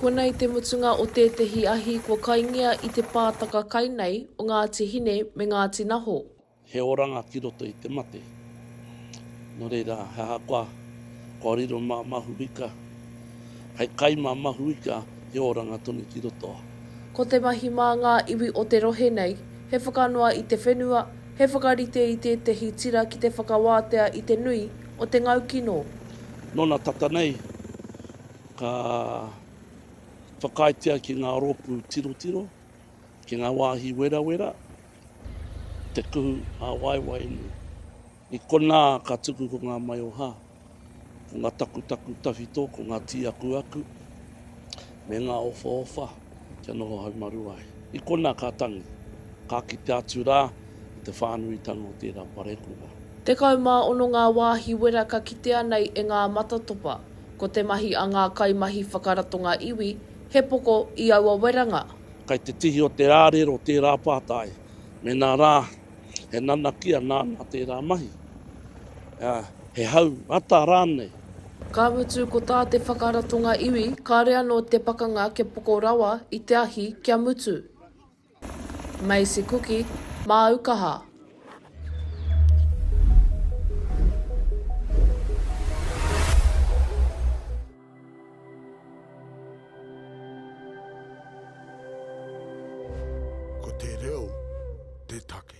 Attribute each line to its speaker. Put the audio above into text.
Speaker 1: Konei te mutunga o tētehi ahi kua kaingia i te pātaka kai nei o Ngāti Hine me Ngāti Naho. He oranga
Speaker 2: ki roto i te mate. Nō reira, he ahakoa kua riro mā Mahuika, hei kai mā Mahuika, he oranga tonu ki roto. Ko te mahi
Speaker 1: mā ngā iwi o te rohe nei, he whakanoa i te whenua, he whakarite i tētehi tira ki te whakawātea i te nui o te ngau kino. Nona tata
Speaker 2: nei, ka whakaaetia ki nga ropu tirotiro, ki nga wahi werawera, te kuhu a waewae nei. I kona ka tuku ko nga maioha, ko nga takutaku tawhito, ko nga tiakuaku, me nga ofaofa. kia noho haumaru ai. I konā ka tangi, ka kite atu rā i te whānuitanga o tērā parekura. Tekau mā
Speaker 1: ono ngā wāhi wera ka kitea nei e ngā matatopa. Ko te mahi a ngā kaimahi whakaratonga iwi, he poko i aua weranga. Kei te tihi o
Speaker 2: te rārero tērā pātai, mēnā rā, he nanakia nāna tērā mahi, ā, he hau ata rānei. Ka mutu
Speaker 1: ko tā te whakaratonga iwi, kāore anō te pakanga kia poko rawa i te ahi kia mutu. Maisie Kuki, Māu Kaha.
Speaker 3: Ko te reo te take.